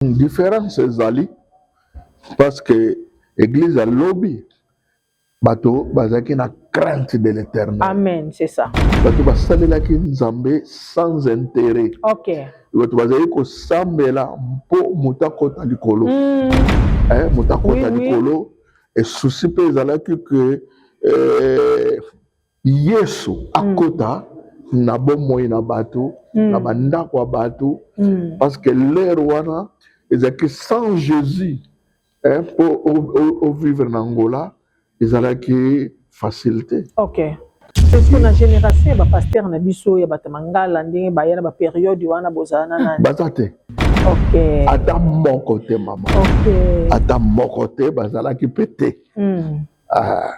Difference ezali parce que eglise ya lobi bato bazalaki na crainte de l'éternel amen c'est ça bato basalelaki nzambe sans intérêt okay. bato bazali kosambela mpo moto akota likolo mm. eh, moto akota oui, likolo oui. esusi mpe ezalaki ke eh, Yesu akota mm. na bomoi na bato mm. na bandako ya bato mm. parce que l'heure wana ezalaki sans Jésus eh, mpo ovivre na Angola ezalaki facile te. Okay. Eske na génération ya bapaster na biso ya bato mangala ndenge baya na baperiode wana bozala na nani? Baza te. Okay. Ata moko te mama. Okay. Ata moko te bazalaki mpe te. Mm. Ah.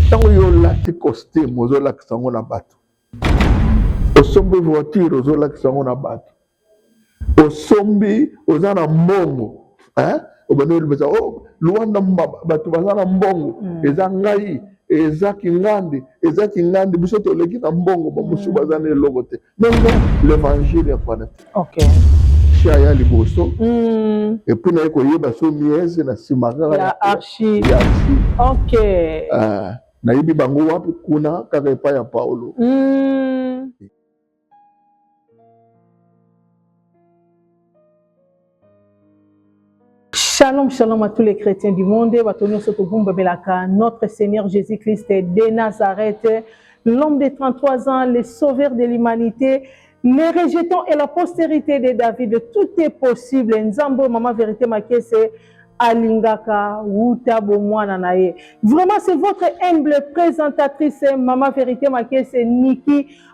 Ntango yo olati costume ozolakisa yango na bato, osombi voiture ozolakisa yango na bato, osombi oza na mbongo hein? obandi olobisa oh, luanda bato baza na mbongo mm. eza ngai eza kingandi eza kingandi biso toleki na mbongo bamosusu mm. baza na eloko te bongo l'evangile ya kwana te okay. archi aya liboso mm. epuis naye koyeba so miese na nsima kaka ya archi okay. uh, nayebi bango wapi kuna kaka epai ya paulo mm. Shalom, shalom à tous les chrétiens du monde. Batonio Sotobumba Belaka, notre Seigneur Jésus-Christ de Nazareth, l'homme de 33 ans, le sauveur de l'humanité, les rejetons et la postérité de David. Tout est possible. Nzambo, maman vérité, ma caisse. alingaka wuta bomwana na ye vraiment c'est votre humble présentatrice mama vérité makese niki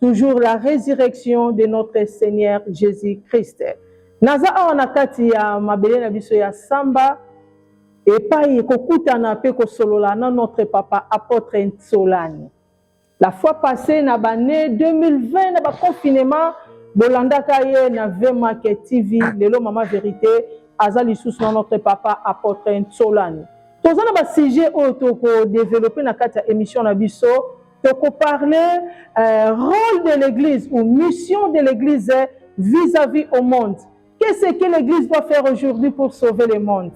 toujours la resurrection de notre Seigneur Jésus-Christ. Naza awa na kati ya mabele na biso ya samba epai kokutana mpe kosolola na notre papa apôtre Nsolani. La fois passée na bane 2020 na ba confinement bolandaka ye na V Market TV lelo mama verite aza lisusu na notre papa apôtre Nsolani. Toza na ba sujet oyo toko développer na kati ya émission na biso toko parler euh, rôle de l'église ou mission de l'église vis-à-vis au monde qu'est ce que l'église doit faire aujourd'hui pour sauver le monde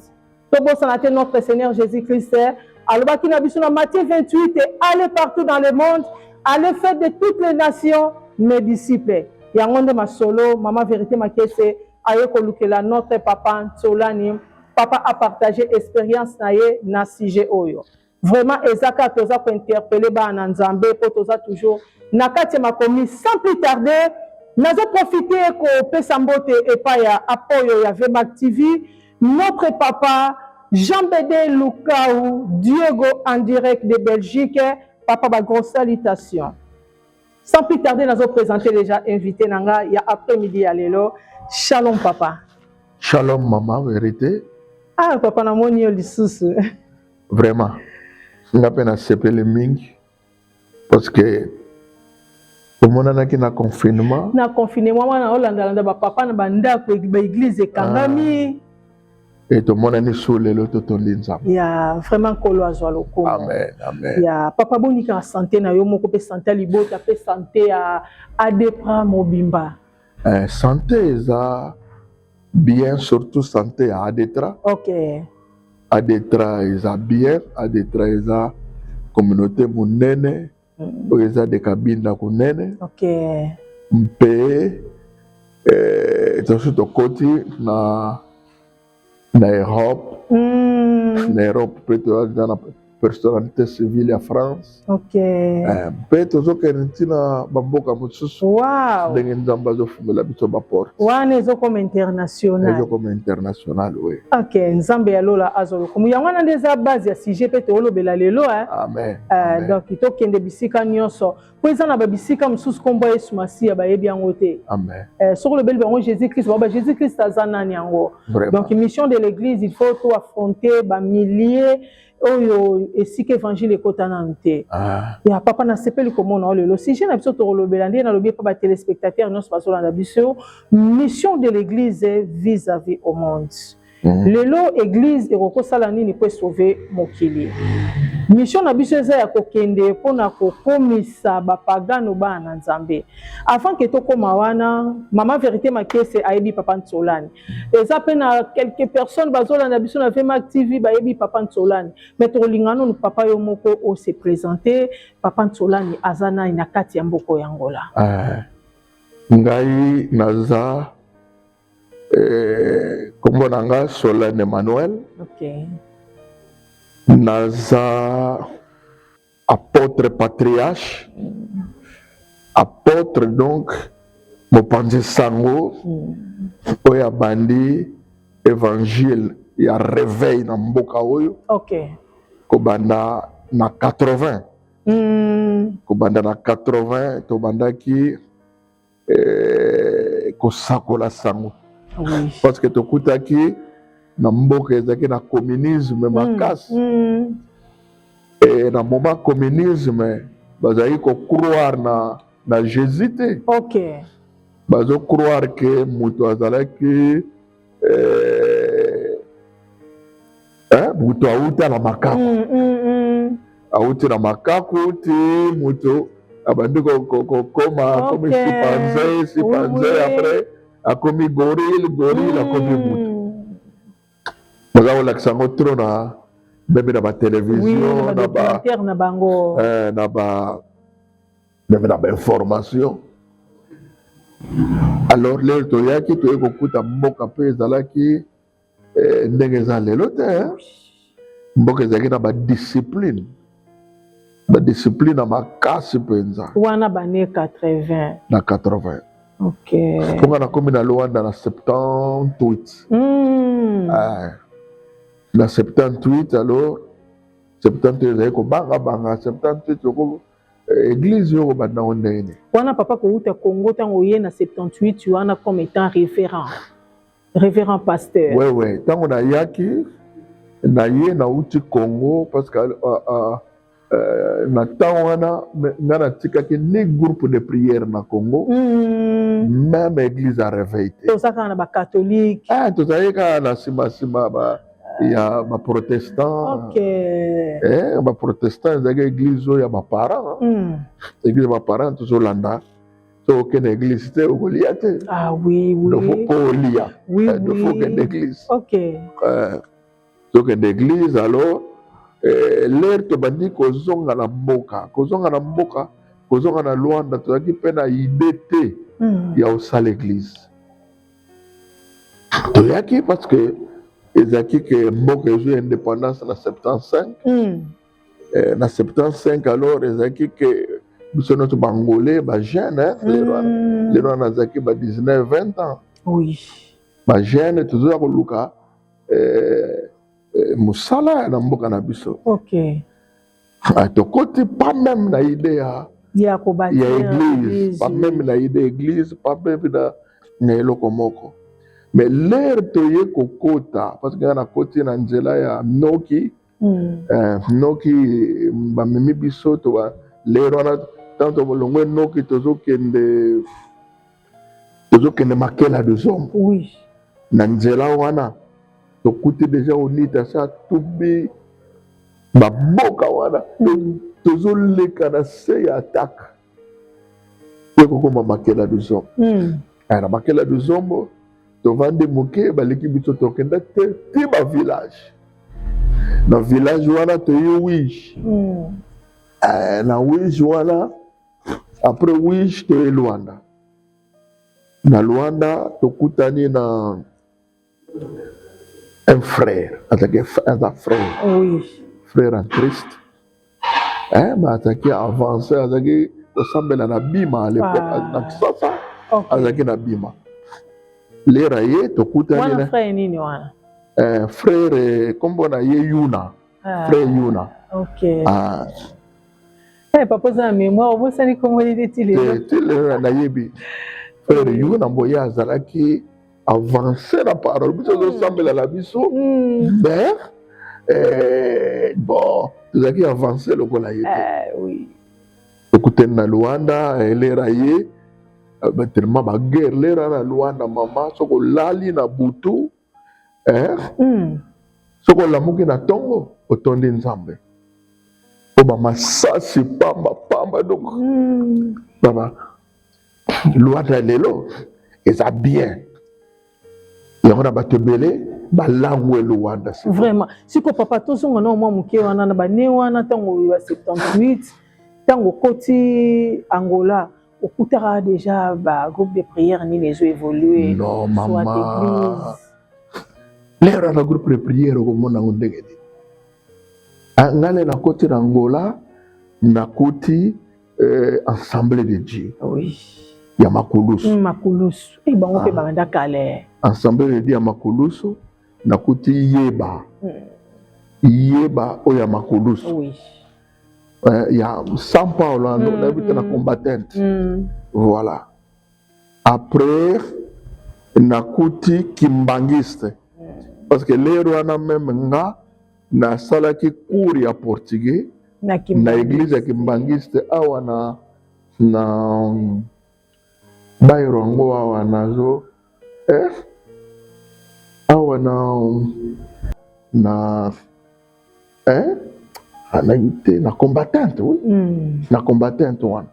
tobosana te notre seigneur jésus christ alobaki na biso na matthieu 28 et allez partout dans le monde allez faire de toutes les nations mes disciples yango nde masolo mama vérité makese aye kolukela notre papa nsolani papa apartage expérience na ye na sujet oyo Vraiment eza kaka toza ko interpeller bana na Nzambe po toza toujours na kati ya makomi sans plus tarder nazo profiter kopesa mbote epai ya apoyo ya Vmac TV notre papa Jean Bede Lukau Diego en direct de Belgique papa ba gros salutations sans plus tarder nazo présenter déjà invité na nga ya après midi ya lelo shalom papa shalom mama verite ah papa namoni yo lisusu vraiment nga mpe nasepeli mingi parce que omonanaki na confinement na confinement wana olandalanda bapapa na bandako baeglize ekangami ah. e tomonani so lelo totondi nzambe ya vraiment nkolo azwa lokumu amen amen ya papa bonika na sante na yo moko mpe sante ya libota mpe sante ya adepra mobimba Eh, sante eza bien surtout sante ya adetra okay. adetra eza bien adetra eza communauté monene mm. oyo eza de kabinda konene okay. mpe eh, tosi tokoti na na Europe mm. na Europe mpe toyaki nga na personnalité civile ya France okay. eh, mpe tozokende ntina bamboka mosusu wow. ndenge nzambe azofungela biso baporte wana ezokoma international ezokoma international oui. ok nzambe ya lola azwa lokumu yango wana nde eza base ya sujet mpe toolobela lelo eh? amen, eh, amen. donc tokende bisika nyonso mpo eza na babisika mosusu nkombo ya yesu masiya bayebi yango te eh, soki olobeli bango jésus christ baba jésus christ aza nani yango donc mission de l'église il faut to affronter bamillie oyo esika évangile ekota nanu te ah. ya papa nasepeli komona oyo lelo sujet na biso tokolobela ndenge nalobi epa batelespectateur nyonso bazolanda biso mission de l'église vis à vis au monde Mhm. lelo eglise ekoki kosala nini mpo esauve mokili misio na biso eza ya kokende mpo na kokomisa bapagano bana na nzambe avant ke tokóma wana mama verité makese ayebi papa nsolani eza mpe na quelques personnes bazolanda biso na vmac tv bayebi papa nsolani mai tokolinga nanu papa yo moko ose présente papa nsolani aza nani na kati ya mboko ya ngola ah, ngai naza Eh, kombo na nga Solène Emmanuel. Okay. Naza apôtre patriarche. Mm. Apôtre donc mopanzi sango mm. oyo abandi évangile ya réveil na mboka oyo. Okay. Kobanda na 80. Mm. Kobanda na 80 tobandaki eh, kosakola sango oui. parce que tokutaki na mboka ezalaki na communisme mm, makasi mm. e, na moment communisme bazalaki kocroire na, na jésus te okay. bazocroire ke moto azalaki eh, eh, moto awuta na makako mm, mm, mm. awuti na makako ti moto abandi kokoma akomi okay. sipanze sipanze oui. après akomi gorille gorille mm. akomi moto baza kolakisa yango tro na meme na batelevizio na ba, na bango eh, na ba meme na bainformation alors lelo toyaki toye kokuta mboka mpe ezalaki eh, ndenge eza lelo te eh. mboka ezalaki na badiscipline badiscipline na makasi mpenza wana bane 80 na 80 okay. mpo nga nakomi na luanda na 78 mm. ah, na 78 alors 78 ezalaki kobangabanga 78 Église yoko banda ngo ndenge nini? Wana papa kowuta Congo tango oye na 78 wana comme étant référent. Révérend pasteur. Ouais ouais, tango na yaki na ye na uti Congo parce que uh, uh, uh, na temps wana nga na tikaki ni groupe de prière na Congo mm. même église à réveil te. Tozaka na ba catholique. Ah, tozalaki kaka na sima sima ba ya ba protestant okay. eh, ba protestant ezalaki eglise oyo ya ba parents mm. eglise ya ba parents tozolanda so okende eglise te okolia te ah, oui, oui. dofo mpo olia oui, eh, dofo okende eglise okay. eh, tokende eglise alors eh, lere tobandi kozonga na mboka kozonga na mboka kozonga na lwanda tozalaki mpe na ide te mm. ya osala eglise toyaki parce que ezalaki ke mboka ezwi indépendance na 75 mm. eh, na 75 alors ezalaki ke biso nyonso bangolais bajeune eh, mm. lelo wana azalaki ba 19 20 ans oui. bajeune tozoya koluka eh, eh, mosala na mboka na biso okay. Ah, tokoti pas même na idée ya ya kobati ya église pas même na idée église pas même na na eloko moko mais l'heure toye kokota parce que nga nakoti na nzela ya noki mm. eh, noki bamemi biso toba lero wana ntango tolongwe noki tozokende tozokende makela de zombe oui. na nzela wana tokuti deja onita sa tubi baboka wana mm. tozoleka na se ya atake mpe kokoma makela de zombe mm. aya na makela de zombo tovandi moke baleki biso tokenda te ti ba village na village wana toye wige mm. eh, na wige wana Après Wish toye Luanda. Na Luanda tokutani na un frère, azalaki aza frère. Oui. Frère en Christ. Eh, mais azalaki avancé, azalaki kosambela na Bima à l'époque, ah. na Kisasa. Okay. Azalaki na Bima. Lera ye tokutani na. Wana frère nini wana? Eh, frère eh, kombo na ye Yuna. Ah. Frère Yuna. Okay. Ah. Hey, eh, papa oza na mémoire obosani kombo nini ti lelo eh, ti lelo nayebi frère yugo na mboye azalaki avance na parole biso ezosambela hmm. na biso hmm. mais eh, bon ezalaki avance lokola ye te tokutani na luanda elera ye tellement baguerre lera na luanda mama soki olali na butu eh? mm. soki olamuki na ntongo otondi nzambe mpo bamasasi pamba pamba donc mm. baba lwanda lelo eza bien yango na bato ebele balangwe luanda vraiment siko papa tozonga na mwa moke wana na bane wana ntango ya 78 ntango okoti angola okutaka déjà ba groupe de prière nini ezo évoluer non mama lero na groupe de prière okomona yango ndenge nini ah, ngai nde nakoti na ngola nakuti euh, ensemble de dieu oui. ya makulusu mm, makulusu e bango mpe ah. banda kale ensemble de dieu ya makulusu nakuti yeba mm. yeba oyo ya makulusu oui. eh, ya São Paulo hein, mm, nayebi te na mm. combattante mm. voilà après nakuti kimbangiste mm. parce que lero wana meme nga nasalaki cours ya portugais na, na église ya kimbangiste awa na na bairo yango awa nazo eh, awa na na eh, anaki te na combattante oui. mm. na combattante wana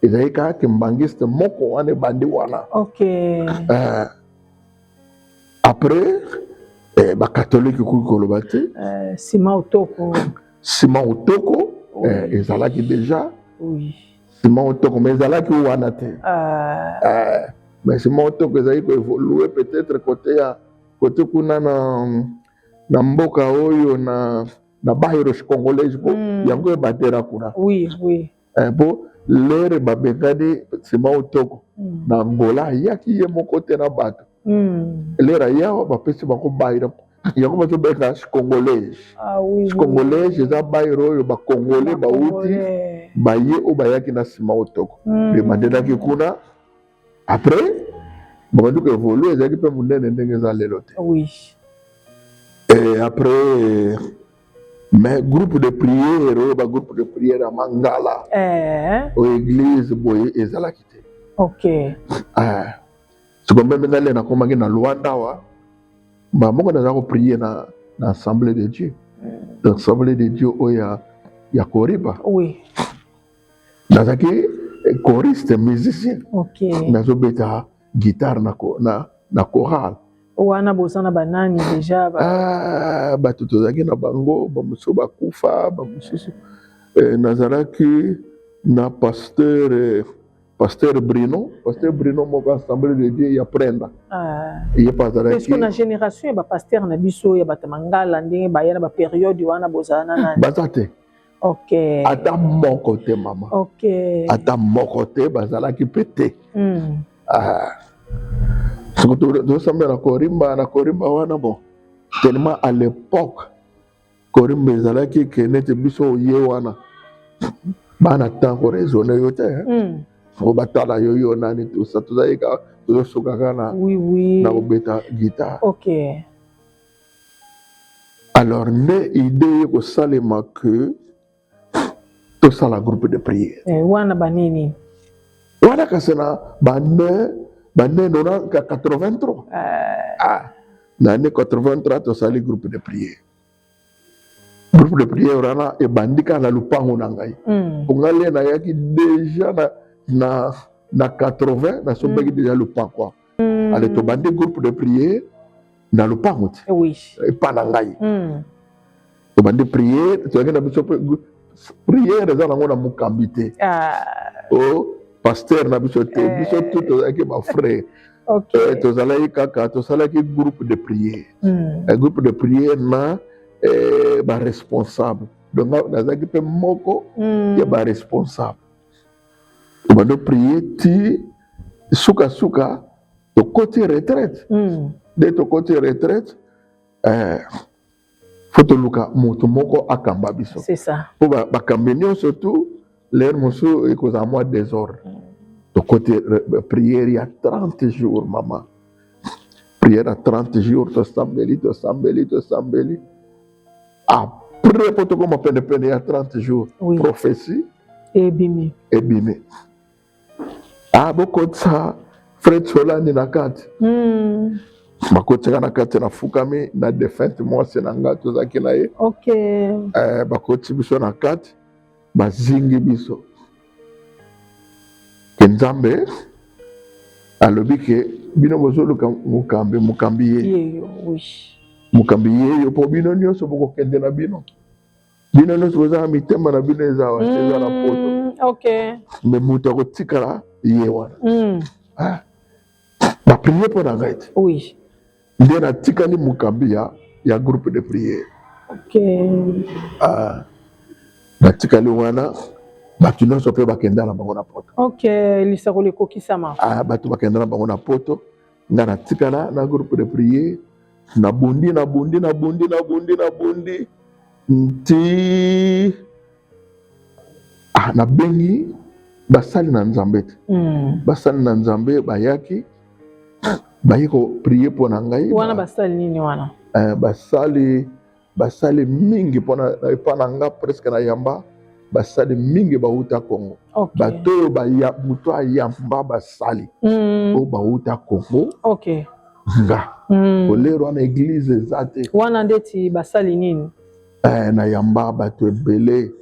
ezali kaka kimbangiste moko wana ebandi wana okay. eh, après eh, bakatolike okoki koloba te eh, sima otoko sima otoko oui. eh, ezalaki déjà oui. Simon Otoko mais ezalaki wana te. Ah. Eh, mais Simon Otoko ezali ko évoluer peut-être côté ya côté kuna na na mboka oyo na na bahiros congolais po mm. yango ebatela kuna. Oui, oui. Eh, po lere babengani Simon Otoko mm. na Angola ayaki ye moko te na bato. Mm. Lere ayawa bapesi bango bahiros yango bazo benga congolais ah, oui, congolais oui. eza baire oyo bacongolais bauti baye oyo bayaki na nsima otoko mm. mpe bandenaki kuna après babandi ko évolue ezalaki mpe monene ndenge eza lelo te oui. et après mais groupe de prière oyo bagroupe de prière ya mangala eh. oyo église boye ezalaki te okay. eh. siko meme ngai lena komaki na luanda awa mbala moko naza koprie na, na assemblée de dieu mm. assemblée de dieu oyo ya, ya koriba oui. nazalaki choriste musicien okay. nazobeta guitare na, na, na chorale wana boza na banani deja ba... ah, bato tozalaki na bango bamosusu bakufa bamosusu eh, nazalaki na pasteur eh, Pasteur Bruno, Pasteur Bruno moko assemblée de Dieu ya Prenda. Ah. Ye pazala. Est-ce que na génération ya ba pasteur na biso ya bata mangala ndenge ba yana ba période wana bozala na nani? Bazate. Ok. Ata moko te mama. Ok. Ata moko te bazalaki pe te. Mm. Ah. Soki tosambela korimba na korimba wana bon. Tellement à l'époque korimba ezalaki eke nete biso oye wana bana temps koraisonne yo te soko batala yo yo nani tosa tozalaki kaka tozosuka kaka na na kobeta guitare alors nde idee ye kosalema que tosala groupe de prière eh, wana banini wana kasi na bane bane nona 83 eh. ah, na ane 83 tosali groupe de prière groupe de prière wana ebandi kaka na lopango na ngai hmm. mpo ngai le nayaki deja na, na, na 80 nasombaki hmm. deja lopango mm. ale tobandi groupe de priere na lopango ti oui. epa na ngai mm. tobandi priere toyaki na biso priere eza nango na mokambi te ah. o oh, paster na biso te eh. biso tu tozalaki bafrère okay. eh, tozalaki kaka tosalaki groupe de priere mm. eh, groupe de priere na eh, baresponsable donc nazalaki mpe moko mm. ya baresponsable bado prier ti suka suka tokoti retraite mm. de tokoti retraite eh, fo toluka moto moko akamba biso mpo bakambi nyonso tu lere mosusu ekozala mwa desordre mm. tokoti priere ya 30 jours mama priere ya 30 jours tosambeli tosambeli tosambeli Après po tokoma pene pene ya 30 jours oui. prophétie ebimi ebimi ah bokotisa Fred Solani na kati mm. bakotika na kati nafukami na definte mwasi na ngai tozalaki na ye okay. eh, bakoti biso na kati bazingi biso ke nzambe alobi ke bino bozoluka mokambi mokambi ye mokambi yeyo mpo bino nyonso bokokende na bino bino nyonso bozala mitema na bino eza wa eza na poto mm, me moto akotikala ye wana mm. ah. Ba prier mpo na ngai te. Oui. Nde natikali mokambi ya, ya groupe de prière. Okay. Ah, natikali wana bato nyonso mpe bakenda na bango na poto. Okay, lisakoli ekokisama. Ah, bato bakenda na bango na poto, ngai natikala na groupe de prière, nabundi nabundi nabundi nabundi nabundi nti ah, nabengi basali na nzambe te mm. basali na nzambe bayaki baye koprie mpo na ngai wana basali nini wana eh, basali basali mingi mpona epa na nga presque na yamba basali mingi bauta congo okay. bato oyo moto ayamba basali mm. oyo bauta congo okay. nga mm. kolero wana eglize eza te wana ndeti basali nini Eh, nayamba bato ebele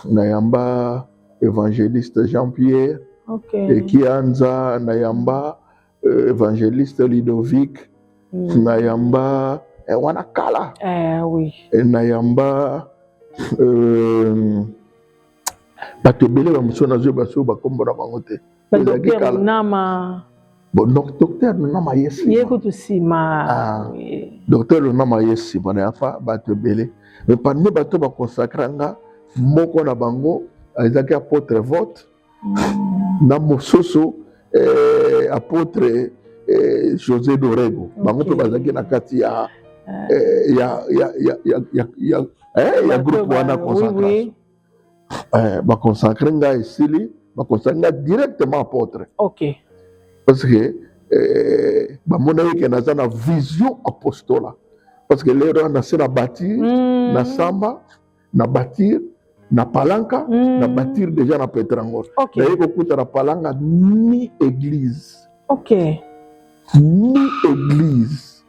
nayamba évangéliste jean pierre okay. ekianza nayamba euh, évangéliste ludovic mm. nayamba eh, wana kala eh, oui. eh, nayamba euh, bato ebele ba mosusu nazo yeba soki bakombo na bango te docteur lunama ye ye kutu nsima ah. docteur lunama ye nsima na yafa bato ebele me parmi bato baconsacra nga moko na bango ezalaki apotre vote mm. na mosusu eh, apotre eh, josé dorego bango mpe bazalaki na kati ya, ah. eh, ya, ya, ya, ya, ya, eh, ya groupe wana consacration eh, ba consacrer nga esili ba consacrer nga directement apôtre ok parce que eh, bamonaki ke naza na vision apostola parce que lelo wana se na bâtir mm. na samba na bâtir na palanka mm. na bâtir déjà na petrangos okay. naye kokuta na palanka ni église okay. ni église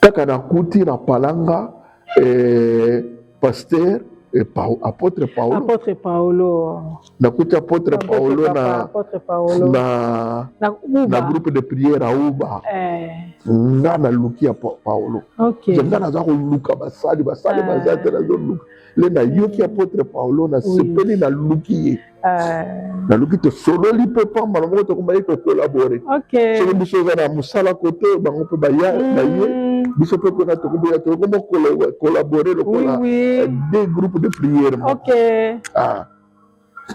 kaka nakuti na palanga eh, pasteur eh, pa, apotre paolo apotre paolo nakuti apotre paolo na, apotre paolo na, na, na groupe de prière auba eh. nga naluki ya paolo okay. nga naza koluka basali basali eh. baza te nazoluka le nayoki apotre paolo nasepeli oui. naluki ye Euh, naluki tosololi mpe mpo mbala moko tokomaki kokolabore soki biso oza na mosala kote bango mpe baya mm. baye biso mpe mpona tokoboya tokoma kolabore lokola eh, de groupe de priere ah.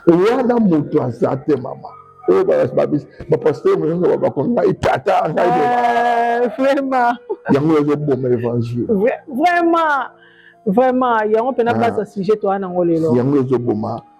wana moto aza te mama oyo bapaster mosusu babako ngai tata ngai eh, vraiment yango ezoboma évangile vraiment vraiment yango mpena ah. baza sujet toa nango lelo yango ezoboma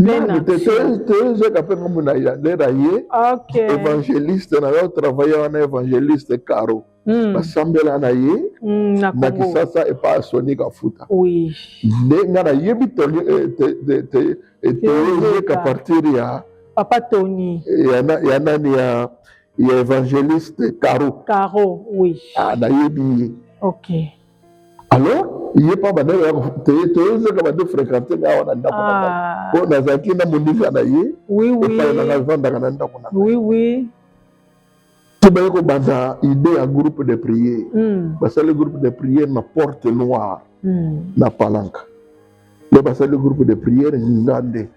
Nani te toyezeka mpe nkombo na yander aye évangéliste na yo travaille wana évangéliste caro hmm. basambela na ye hmm, na kisasa epa ya soni kafuta nde nga nayebi toyezeka eh, partir ya papa tony ya nani ya ya évangéliste caro caro oui ah, nayebi ye okay alors ye mpa bandeko ya toye toyozeka bande fréquente nga awa na ndako na ngai ah. mpo nazalaki na moninga na ye epai na ngai avandaka na ndako na ngai tobaye kobanda idée ya groupe de prière hmm. basali groupe de prière na porte noire hmm. na palanka nde basali groupe de prière nzinga nde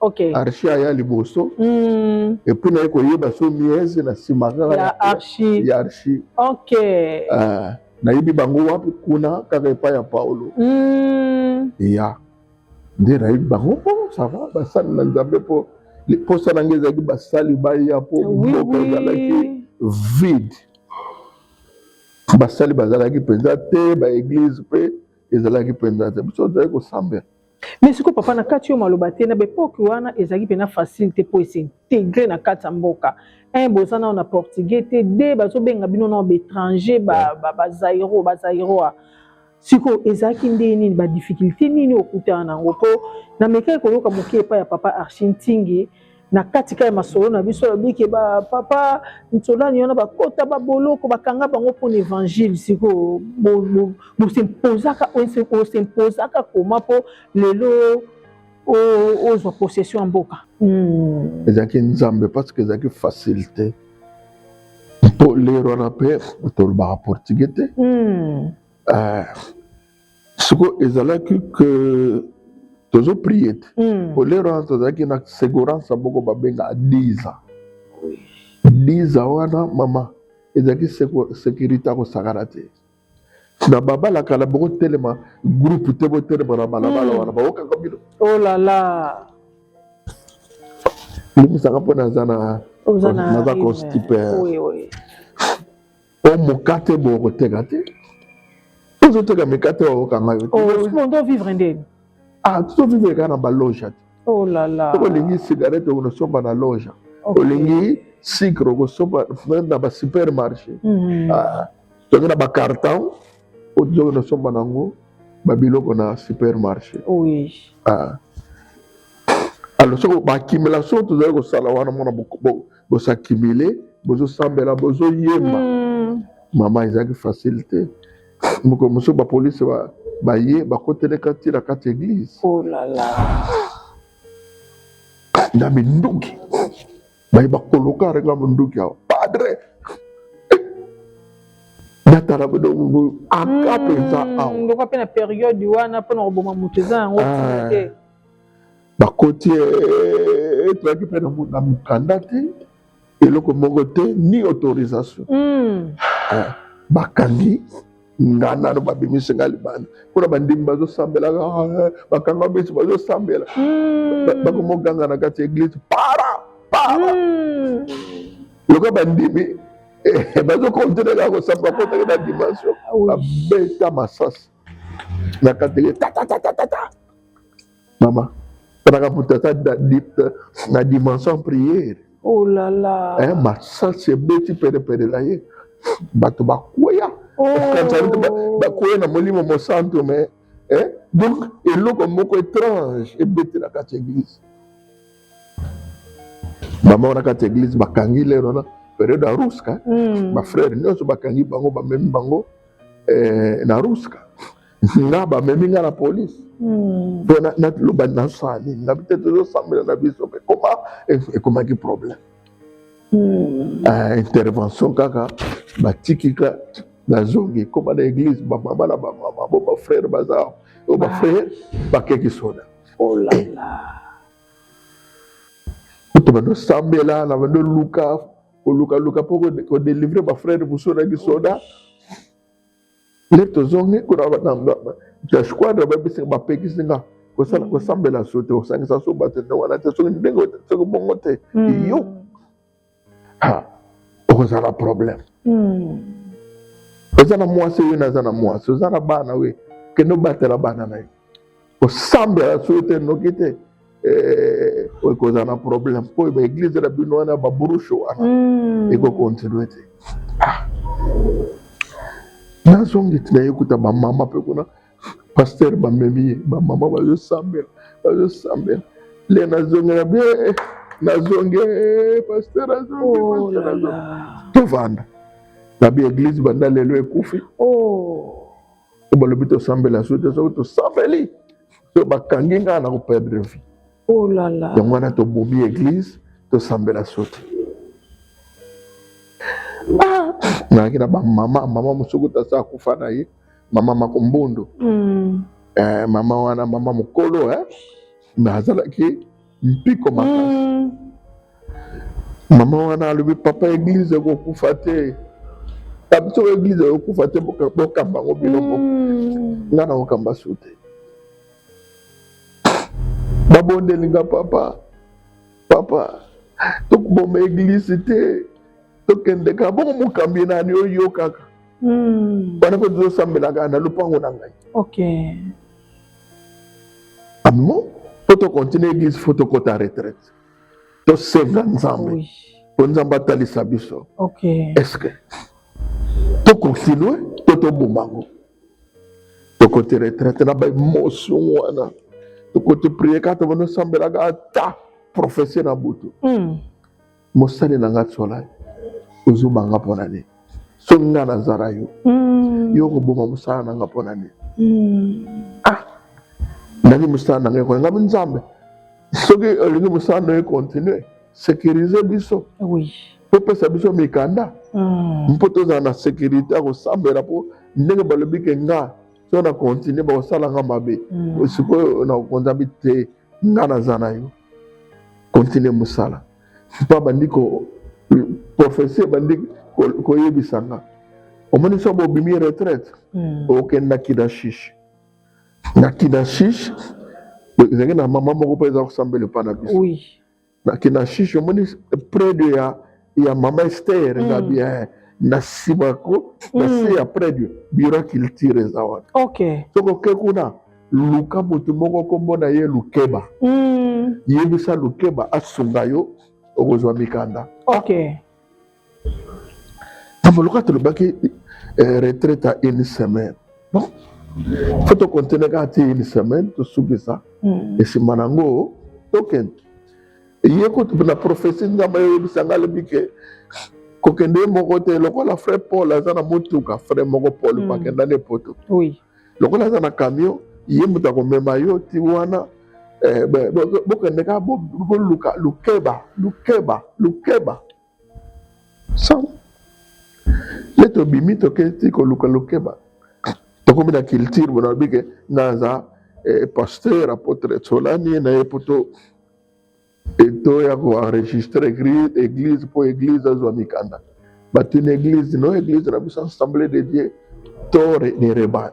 okay. archi aya liboso mm. epuis naye koyeba so miese na nsima kaka ya archi, ya archi. Okay. Uh, nayebi bango wapi kuna kaka epai ya paulo mm. ya nde nayebi bango po oh, sava basali na nzambe mpo mposa na ngai ezalaki basali baya mpo mboka ezalaki vide basali bazalaki mpenza te baeglize mpe ezalaki mpenza te biso tozalaki kosambela Mais siko papa na kati yo maloba te na bepoke wana ezalaki pena facile te po esintegre na kati ya mboka un boza nao na portugais te de bazobenga bino nao baétranger bazairo bazairoa siko ezalaki ndenge nini badifficulté nini okutana nango po na mekaki koyoka moke epai ya papa archi ntingi na kati kaka ya masolo na biso alobi ke ba papa nsonani wana bakota baboloko bakanga bango mpo na évangile sikoyo bosimposaka osimpozaka koma mpo lelo ozwa possession ya mboka hmm. ezalaki nzambe parce que ezalaki facile te mpo lero wana mpe tolobaka portugais te hmm. eh, siko ezalaki ke tozo prie te mm. olero wana tozalaki na segurance moko babengaka diza diza wana mama ezalaki securite ya kosakana te na babala kala bokotelema groupe te botelema na balabala hmm. wana baokaka bino olala oh limbisaka mpo naza na naza constipe o mokate boye okoteka te ozoteka mikate oyo okanga yo te vivre ndeni ah tozovivre kaka na baloja te oh là là soko olingi cigarette okosomba na loja olingi sucre okosomba na ba supermarché mhm. ah, toke na bacarton ozoki nosomba nango babiloko na supermarché oui. ah. alors soko bakimela so tozali kosala wana mona bosakimile bozosambela bozoyemba mm. mama ezalaki facile te mokolo mosusu bapolisi baye bakoteleka ti na kati eglise oh na minduki baye bakoloka renga monduki awa padre natala bodogo aka mpenza mm, awa ndoka mpe na periode wana mpo na koboma moto eza yango ah. te bakoti eh, toyaki mpe na mokanda te eloko moko te ni autorisation hmm. eh, bakangi nga nano babimisi nga libanda mpona bandimi bazosambelaka eh, bakanga bisi bazosambela hmm. bakomoganga na kati ya eglise para para hmm. lokola bandimi bazokontinue kaka kosamba kotaki na dimension ah babeta masasi na kati tatatata Mama, talaka moto ata na dimension priere. Oh là là. Eh, masasi ebeti perepere na ye. Bato bakweya. Oh. Bakweya na molimo mosantu mais eh? donc eloko moko étrange ebeti na kati ya église. Mama wana kati ya église bakangi lero wana periode ya ruska. Mm. Ba frère nyonso bakangi bango bamemi bango eh, na ruska. nga bamemi nga na polise hmm. mpo naloba nasala nini na bite tozosambela na biso mpe koma ekomaki problème hmm. ah, intervention kaka batiki ka nazongi ekoma na église bamama na bamama bo bafrère baza o oh, bafrère bakeki soda kutu bandosambela na bandoluka kolukaluka mpo kodelivre bafrère mosusu na kisoda nde tozongi kuna jasquadre babisi bapekisi nga kosala mm. kosambela so te kosangisa so bato nde wana te soki ndenge soki bongo te mm. yo okozala problème mm. oza na mwasi oyo naza na mwasi oza na bana oyo kende obatela bana na yo kosambela soki te noki te eh, oyo ekozala na problème mpo baeglize na bino wana babrushe wana hmm. ekokontinue te ah. nazongi tina ye kuta bamama mpe kuna paster bamemi ye bamama bazosambela bazosambela le nazongi na bie eh, nazongi eh, paster azongi oh tovanda na bieglize banda lelo ekufi oh. oyo balobi tosambela soki te soki tosambeli soki bakangi ngai na koperdre vie oh yango wana tobomi eglise tosambela so te ah! nayaki na bamama mama mosuku tasa akufa na ye mama makombondo mm. eh, mama wana mama mokolo eh? nazalaki mpiko makasi mm. mama wana alobi papa eglize ekokufa te biso eglize ekokufa te bokamba yango bino moko mm. ngai na kokamba su te babondeli nga papa papa tokoboma eglize te tokende kaka bongo mokambi ye nani oyokaka hmm. wana mpe tozosambelaka na lopango na ngai Amen. Faut to continuer église, faut to kota retraite. To senga Nzambe. Oui. Po Nzambe atalisa biso. OK. Est-ce que to continuer to to bomango. To kota retraite na ba emotion wana. To kota prier ka to bono sambela ga ta prophetie na butu. Mm. mosali na nga tsola ozobanga mpo na nini soki nga nazala yo mm. yo okoboma mosala na nga mpo na nini mm. ah nani mosala na nga ekona ngami nzambe soki olingi mosala na yo ekontinue sécurise biso oui. topesa biso mikanda mm. mpo tozala na sécurité ya kosambela mpo ndenge balobi ke nga so na continue bakosala nga mabe mm. sikoyo na konzambi te mm. nga naza na yo continue mosala mpo abandi ko profesi ebandi koyebisa nga omoni so bobimi retraite hmm. okenda kidashishi na kidashishi ezalaki na mama moko mpe eza kosambela epa na biso na kinashishi omoni près de ya ya mama ester eza mm. bien na nsima ko na se mm. ya près de bureau culture eza wana okay. soki oke kuna luka motu moko nkombo na ye lukeba mm. yebisa lukeba asunga yo okozwa mikanda okay. Tamba loka tolobaki eh, retraite à une semaine. Bon. Faut to continuer kaka ti une semaine tosukisa hmm. esimba na yango tokende ye kutu na prophesie nzambe ayebisa ngai alobi ke kokende ye moko te lokola frai paul aza na motuka frai moko paul mm. akenda na epoto oui. lokola aza na camion ye moto akomema yo ti wana eh, bokende kaka boluka lukeba lukeba lukeba Sans. Nde tobimi toketi koluka lokeba. Tokomi na culture bona lobi ke naza eh, pasteur apotre Tsolani na ye poto eto ya ko enregistrer église église po église azwa mikanda. Batuni église no église na biso assemblée de Dieu to ne rebane.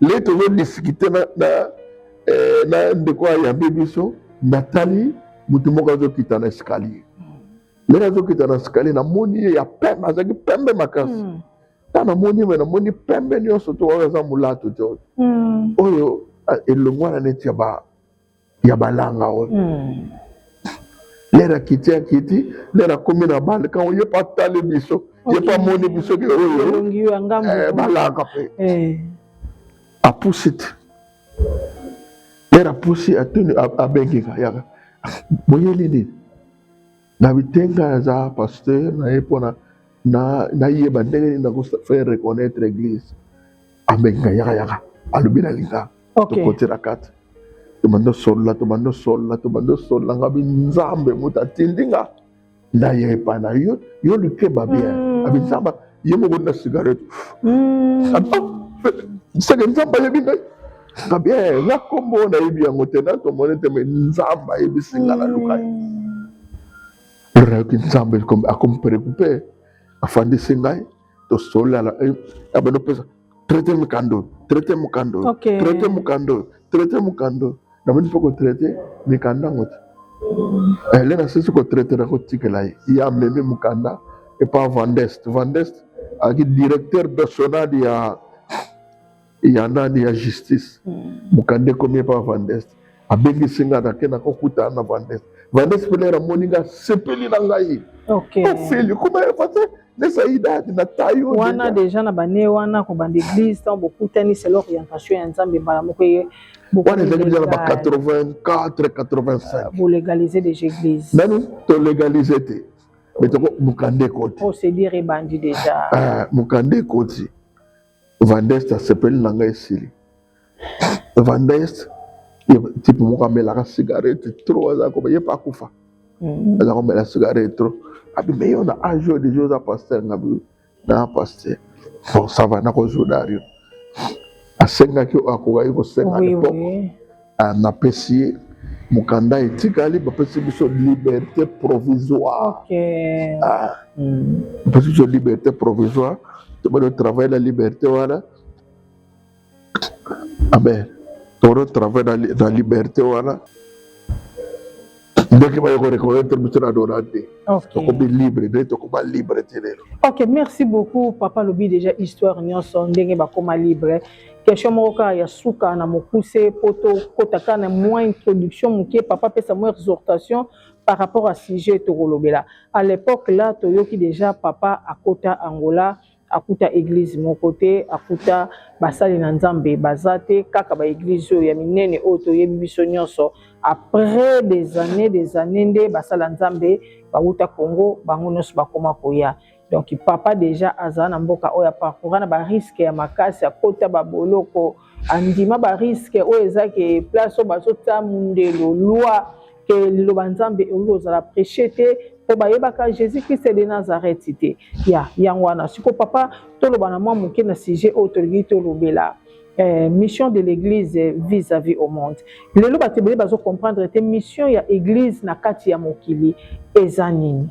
lei tozodiskite na, na, eh, na ndeko ayambi biso natali moto moko azokita na escalier ndenge azokita na escalier namoni ye ya pembe azalaki pembe makasi hmm. ntango namoni me namoni pembe nyonso to oyo aza molatu te hmm. oyo elongwana neti ya ba ya balanga oyo mm. lere akiti akiti lere akomi na bale kango ye mpe atali biso okay. ye mpe amoni biso ke oyo eh, balanga mpe eh. apusi te lere apusi atuni abengika yaka boyeli nini na bitenga naza pasteur na ye mpona nayeba ndenge nini nako faire reconnaître église abenga yaka yaka alobi na linga tokotela kati tobandi osolola tobandi osolola tobandi osolola nga bi nzambe moto atindi nga naye epa na yo yo likeba bien hmm. abi nzambe ye moko na cigarette hmm. seke nzambe ayebi ngai nga bien eh, nga kombo nayebi yango te na tomoni te me nzambe ayebisi nga na luka ye hmm. lelo nayoki nzambe akomi preocupe afandisi ngai tosolala eh, abando pesa traite mokando traite mokando traite mokando traite mokando nabandi mpe kotraite mikanda yango te eh, le nasisi kotraite na kotikela ye ye amemi mokanda epa vandest vandest ayaki directeur national ya ya nani ya justice mokanda ekomi epa vandes abengisi ngai nake nakokutana na vandes vandes pelere amoni ngai asepeli na ngai ofeli kuma efase nesa idadi na tayo wana deja na bane wana kobanda eglise ntango bokutani selo orientation ya nzambe mbala moko eye wana ezalaki deja na ba 84 85 bolegalize deja eglise nani tolegalize te mais toko mokanda ekoti mokanda ekoti Vandest asepeli na ngai esili. Vandest type moko amelaka cigarette trop aza ko ye pa kufa. Mm. Aza ko mela cigarette trop. Abi mais yo na âge yo déjà oza pasteur na bi na pasteur. Bon ça va na ko zuda yo. Asengaki akokaki kosenga oui, l'époque. Oui. Ah, napesi ye mokanda etikali bapesi biso liberté provisoire okay. ah. mm. bapesi biso liberté provisoire tobali otravaille na liberté wana amen toro travaille na, na liberté wana ndenge baye ko reconnaître biso na dona te tokomi libre nde tokoma libre te lelo ok merci beaucoup papa lobi déjà histoire nyonso ndenge bakoma libre question moko kaka ya suka na mokuse mpo tokota kaka na mwa introduction moke papa apesa mwa exhortation par rapport à sujet tokolobela à l'époque là toyoki déjà papa akota angola akuta eglise moko te akuta basali na nzambe baza te kaka baeglise oyo ya minene oyo toyebi biso nyonso après des années des années nde basala nzambe bawuta congo bango nyonso bakoma koya donc papa deja azala na mboka oyo aparcoura na bariske ya makasi akota baboloko andima bariske oyo eza ke place oyo bazotya mondelo loi que liloba nzambe ekoki kozala preche te mpo bayebaka jésus christ de nazareth te ya yango wana siko papa toloba na mwa moke na sujet oyo tolingi tolobela Eh, mission de l'église vis-à-vis au monde lelo bato ebele bazocomprendre te mission ya église na kati ya mokili eza nini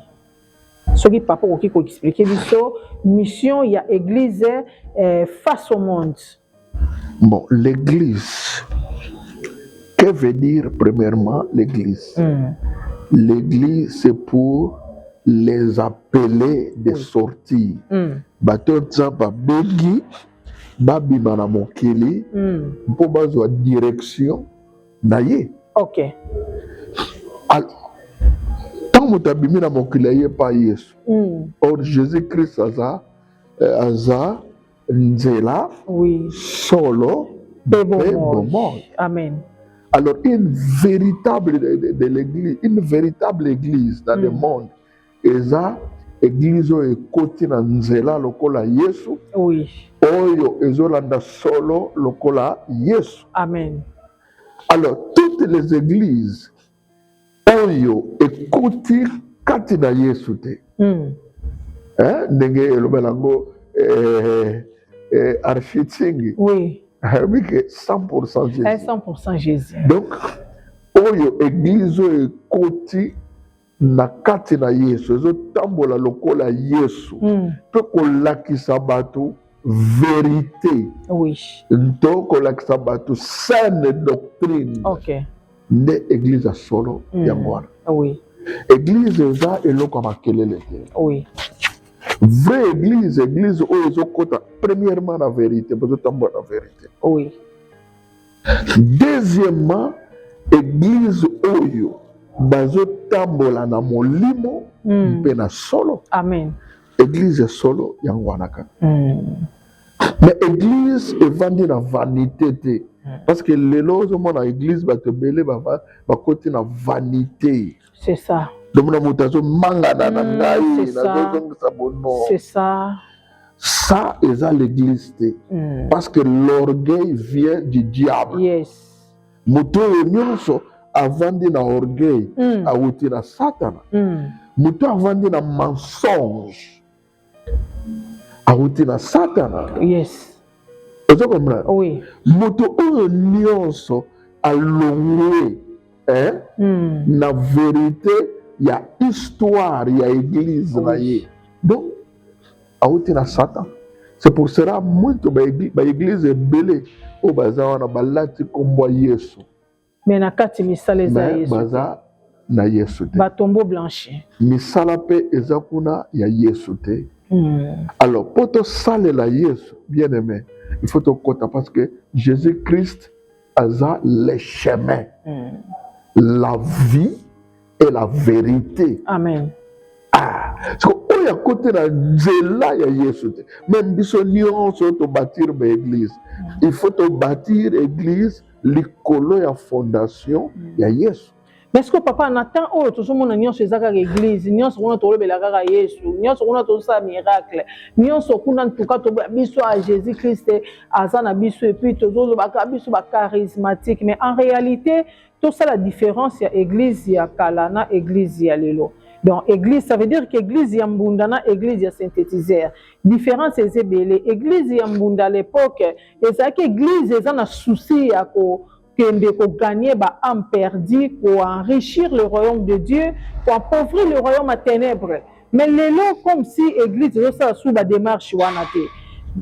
soki papa okoki koexplike biso mission ya église eh, face au monde Bon, l'église. Que veut dire premièrement l'église mm. L'église, c'est pour les appeler de oui. sortir. Mm. Bato nza babengi babima na mokili mm. mpo bazwa direction na ye. Okay. Alors, ntango moto abimi na mokili aye epai Yesu. Mm. Or Jésus-Christ aza euh, aza nzela oui. solo mpe bomoi amen alors une véritable de, de, de l'église une véritable église dans mm. le monde eza église oyo ekoti na nzela lokola yesu oui. oyo ezolanda solo lokola yesu amen alors toutes les églises oyo ekoti kati na yesu te mm. eh, ndenge elobela yango eh, eh, architingi oui. ayebi ke 100 jésus, 100 jésus. donc oyo eglize oyo ekoti na kati na yesu ezotambola lokola yesu mm. mpe kolakisa bato verite oui. to kolakisa bato saine doctrine okay. nde eglise ya solo mm. yango wana oui. eglise eza eloko ya makelele te oui. vraie eglise eglise oyo ezokota premièrement na verité bozotambola na verité oui. deuxièmement eglise oyo bazotambola na molimo mm. mpe na solo amen eglise ya solo yango wana kaka mm. mais église evandi na vanité te hmm. parce que lelo ozomona église bato ebele bakoti na vanité c'est ça domona moto azomangana na hmm, ngai nazozongisa bono c'est ça ça eza l'église te hmm. parce que l'orgueil vient du diable yes. moto oyo nyonso avandi na orgueil mm. awuti na satana mm. moto avandi na mensonge awuti na satana yes ozo comprendre oui. moto oyo nyonso alongwe eh? mm. na verite ya histoire ya eglise oui. na ye donc awuti na satan c'est pour cela mwinto baeglise ebele oyo baza wana balati nkombo ya yesu Mais na kati misala eza Yesu. Baza na Yesu te. Batombo blanche. Misala pe eza kuna ya Yesu te. Hmm. Alors po tosalela Yesu bien aimé il faut tokota parce que Jésus-Christ aza le chemin. Hmm. La vie et la vérité. Amen. Ah, siko oyo akotela nzela ya Yesu te. Même biso nyonso to bâtir ba église. Mm. Il faut to bâtir église likolo ya fondation mm. ya Yesu. Mais ce que papa na temps oyo tozomona nyonso eza kaka église nyonso kuna tolobela kaka yesu nyonso kuna tozosala miracle nyonso kuna ntuka toboya biso a jésus christ aza na biso epuis tozolobaka biso bacharismatique mais en réalité tosala difference ya eglise ya kala na eglise ya lelo donc eglise ça veut dire que eglise ya mbunda na eglise ya synthétiseur différence eza ebele eglise ya mbunda à l'époque ezalaki eglise eza na souci ya ko kende koganye ba ame perdu koenrichir le royaume de dieu koapauvrir le royaume ya ténèbre mais lelo comme si église ezosala sur bademarche wana te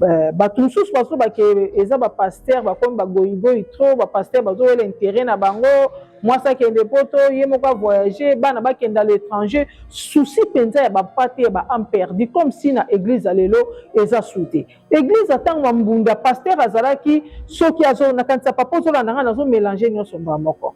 euh, bato mosusu bazoba ke eza bapaster bakomi bagoyigoyi trop bapaster bazowela intere na bango mwasi akende poto ye moko avoyage bana bakenda l'étranger souci mpenza ya bapa te ya baame perdu comme si na église ya lelo eza su te église ntango ya mbunda paster azalaki soki nakanisa papa ozolanda ngai nazomelange nyonso mbaa moko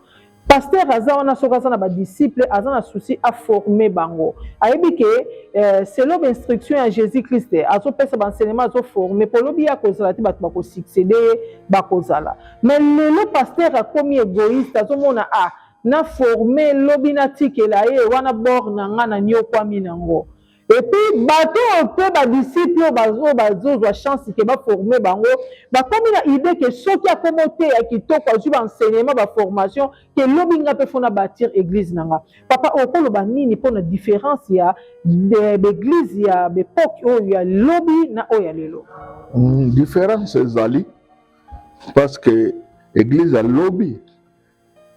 Pasteur aza wana soki aza na ba disciples aza na souci a former bango. Ayebi ke euh, selon ba instruction ya Jésus Christ azo pesa ba enseignement azo former po lobi ya kozala te bato bako succéder ye bakozala. Mais lelo pasteur akomi égoïste azo mona ah na former lobi na tikela ye wana bord na nga na niokwami na ngo. epuis bato oyo mpe ba disciple oyo bazo bazozwa chance ke ba forme bango bakomi na idee ke soki akomi oteya kitoko azwi ba enseignement ba formation ke lobi nga mpe fo na batir eglise na nga papa okoloba nini mpo na difference ya b'eglise ya b'epoque oyo ya lobi na oyo ya lelo difference ezali parce que eglise ya lobi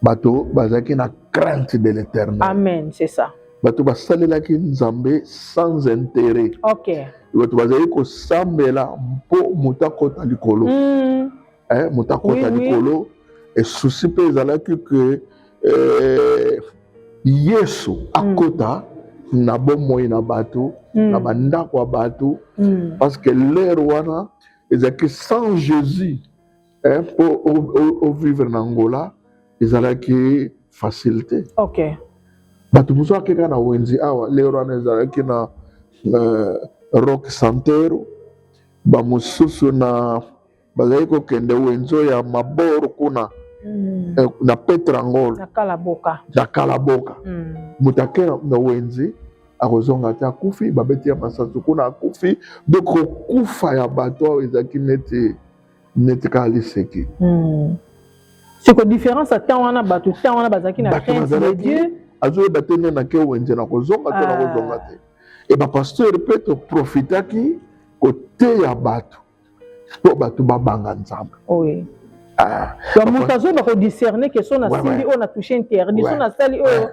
bato bazalaki na crainte de l'éternel amen c'est ça bato basalelaki nzambe sans intérêt okay. bato bazali kosambela mpo moto akota likolo mm. eh, moto akota oui, likolo oui. esusi mpe ezalaki ke eh, yesu hmm. akota mm. na bomoi na bato mm. na bandako ya bato mm. parce que lere wana ezalaki sans jésus eh, mpo ovivre na angola ezalaki facile te okay. bato mosusu akeka na wenzi awa lero wana ezalaki na uh, rock santero bamosusu na bazali kokende wenzo ya maboro kuna mm. eh, na petrangol na kalaboka, na kalaboka. Mm. moto akela na wenzi akozonga te akufi babeti ya masansu kuna akufi donc kokufa ya bato awa ezalaki neti neti kaka liseki hmm. siko différence ya temps wana bato temps wana bazalaki na crainte de dieu azoyeba te nde nake wenze na kozonga to na ah. kozonga te e bapasteur mpe toprofitaki koteya bato mpo bato babanga nzambe ah. moto azoyeba kodiscerne ke so nasimbi oyo na touche interdit so nasali oyo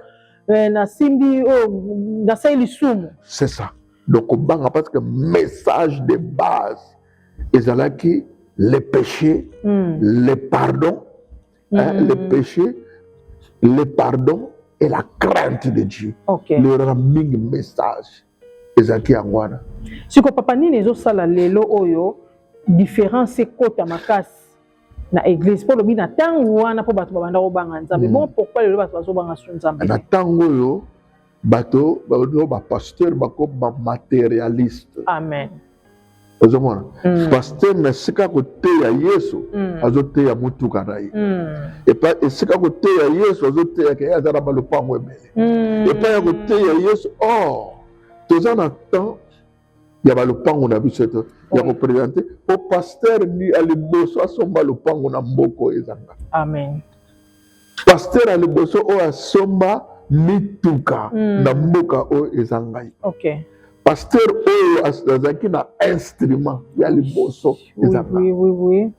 eh, nasimbi oyo nasali lisumu c'est ça donc kobanga parce que message de base ezalaki le péché mm. le pardon mm. hein, hmm. le péché le pardon et la crainte de Dieu okay. leyolaka mingi message ezalaki yango wana siko papa nini ezosala lelo oyo différence ekota makasi na eglise mpo lobi na ntango wana mpo bato babanda kobanga nzambe mm. bon pourkoi lelo bato bazobanga su nzambe na ntango oyo bato baoyo bapasteur bakoma materialiste amen ozomona mm. pasteur na esika koteya yesu mm. azoteya motuka na ye mm. epa esika koteya yesu azoteyaka ye aza na balopango ebele mm. epai ya koteya yesu or oh, toza na temps ya balopango na biso to ya kopresente po paster ya liboso asomba lopango na mboko ezanga amen paster ya liboso oyo asomba mituka mm. na mboka oyo eza ngai okay. paster oyo azalaki na instrument ya liboso ezanga oui, oui, oui, oui.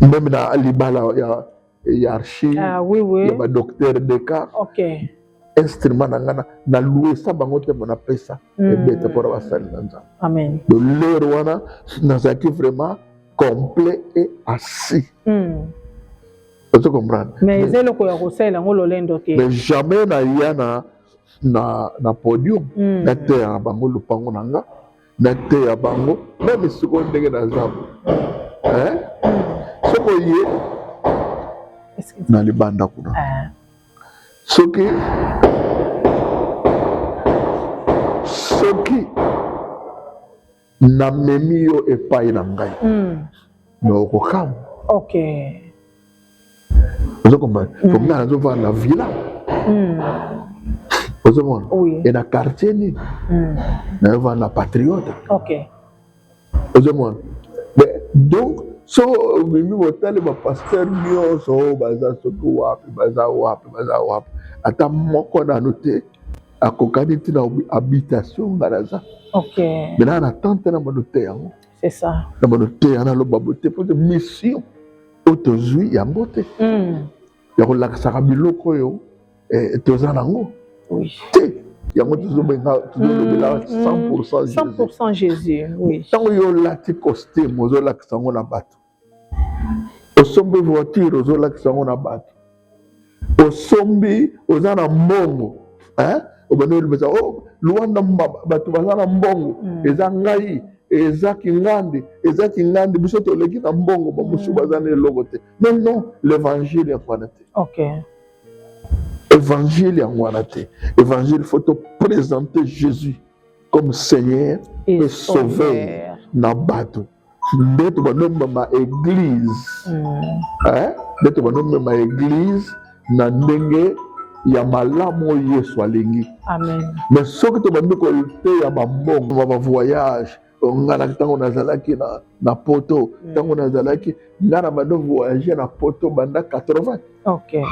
Même na libala ya ya archive ah, oui, oui. ya ba docteur Descartes. Okay. Instrument na ngana na louer sa bango te mona pesa mm. ebeta pour ba sali na nzambe. Amen. De l'heure wana nazaki vraiment complet et assis. Mm. Ozo comprendre? Mais eza eloko ya kosalela ngo lolendo te. Mais jamais na yana na na podium mm. na terre bango lupango na nga. na te ya bango meme sikoyo ndenge naza eh? soko ye na libanda kuna ah. soki soki namemi yo epai na ngai mm. na okokamwa okay. ozo comprendre mm. comme na zo fa na villa mm. ozo mon oui. et na quartier ni mm. na va na patriote OK ozo mon mais donc so mimi botali ba pasteur nioso baza soki wapi baza wapi baza wapi ata moko nanu te akokani ntina habitation nga naza okay. me na na tante na mono te yango C'est ça. Na bono te na loba bote po de mission oto zui ya mbote. Mm. Ya ko lakisa ka biloko yo eh, toza nango. Oui. Te yango tozobenga tozolobela 100% Jésus. 100% Jésus. Oui. Tango yo lati costume ozolakisa ngo na bato. osombi voiture ozolakisa yango na bato osombi oza na mbongo eh? obandi olobesa o oh, luanda bato baza na mbongo mm. eza ngai eza kingandi eza kingandi biso toleki na mbongo bamosusu mm. baza na eloko te mais non l'évangile yango wana te okay. évangile yango wana te évangile faut toprésente jésus comme seigneur et, et sauveur na bato nde tobandi omema eglize hmm. eh? nde tobandi omema eglize na ndenge ya malamu oyo yesu alingi mais soki tobandi koteya bambongo ba bavoyage nga na ntango nazalaki na, na poto hmm. ntango nazalaki nga na bando voyage na poto banda 80 okay.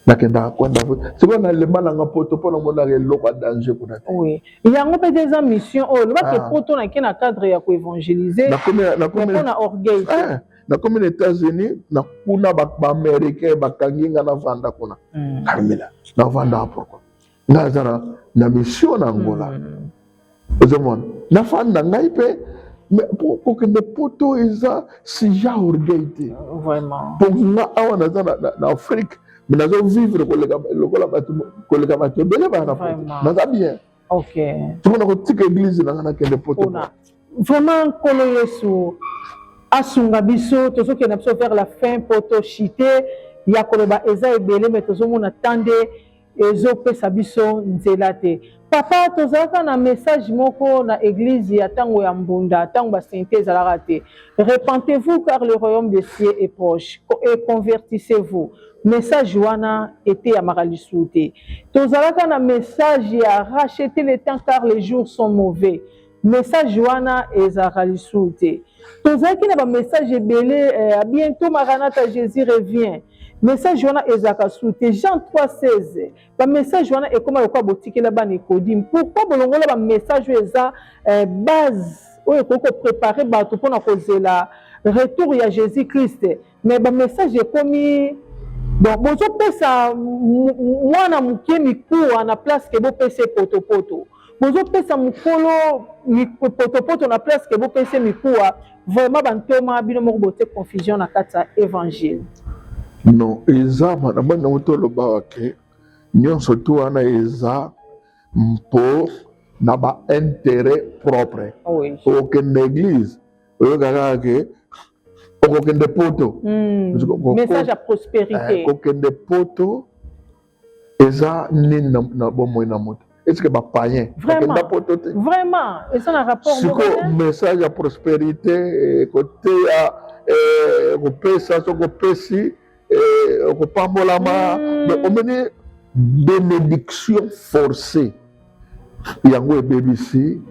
nakendaka kwenda sikoyo nalemba nanga poto mpo namonaka eloko ya danger kuna te oui. yango mpe te eza mission oyo olobaki ah. poto nake na cadre ya koevangelize mpona orgueil ah, nakomi na états-unis na kuna baaméricain bakangi nga navanda kuna hmm. carmela navandaka pourkoi nga aza na, na mission na angola mm. ozomona nafanda ngai mpe kokende poto eza sija orgueil te mpo nga awa naza na, na, na afrique me nazo vivre koleka lokola bato koleka bato ebele baya na poto naza bien okay. tokona kotika eglise nanga nakende poto vraiment nkolo yesu asunga biso tozokenda biso vers la fin mpo toshite ya koloba eza ebele me tozomona temps nde ezopesa biso nzela te papa tozalaka na message moko na eglise ya tango ya mbunda tango ba sainte ezalaka te repentez-vous car le royaume de cieux est proche et convertissez-vous message wana eteyamaka lisusu te tozalaka na message ya racheter le temps car les jours sont mauvais message wana ezalaka lisusu te tozalaki na bamessage ebele eh, a bientôt maranata jésus revient message wana ezalaka su te jean 316 bamessage wana ekoma lokola botikela bana ekodime pourkui bolongola bamessage oyo eza eh, base oyo ekoki koprepare bato mpona kozela retour ya jésus christ mais ba message ekomi donc bozopesa mwana moke mikuwa na place ke bopesa ye potopoto bozopesa mokolo potopoto na place ke bopesa ye mikuwa vraiment bantoma bino moko botie confusion na kati ya evangile non eza na bani yango tolobaka ke nyonso tu wana eza mpo na bainteret propre ah okende eglise oyokaka ke okokende poto hmm. message ya prospérité eh, kokende poto eza nini na bomoi na moto eske bapayen bakenda poto te vraiment eza na rapport siko message ya prospérité eh, koteya eh, kopesa so kopesi eh, okopambolama me mm. omoni benediction forcée yango ebebisi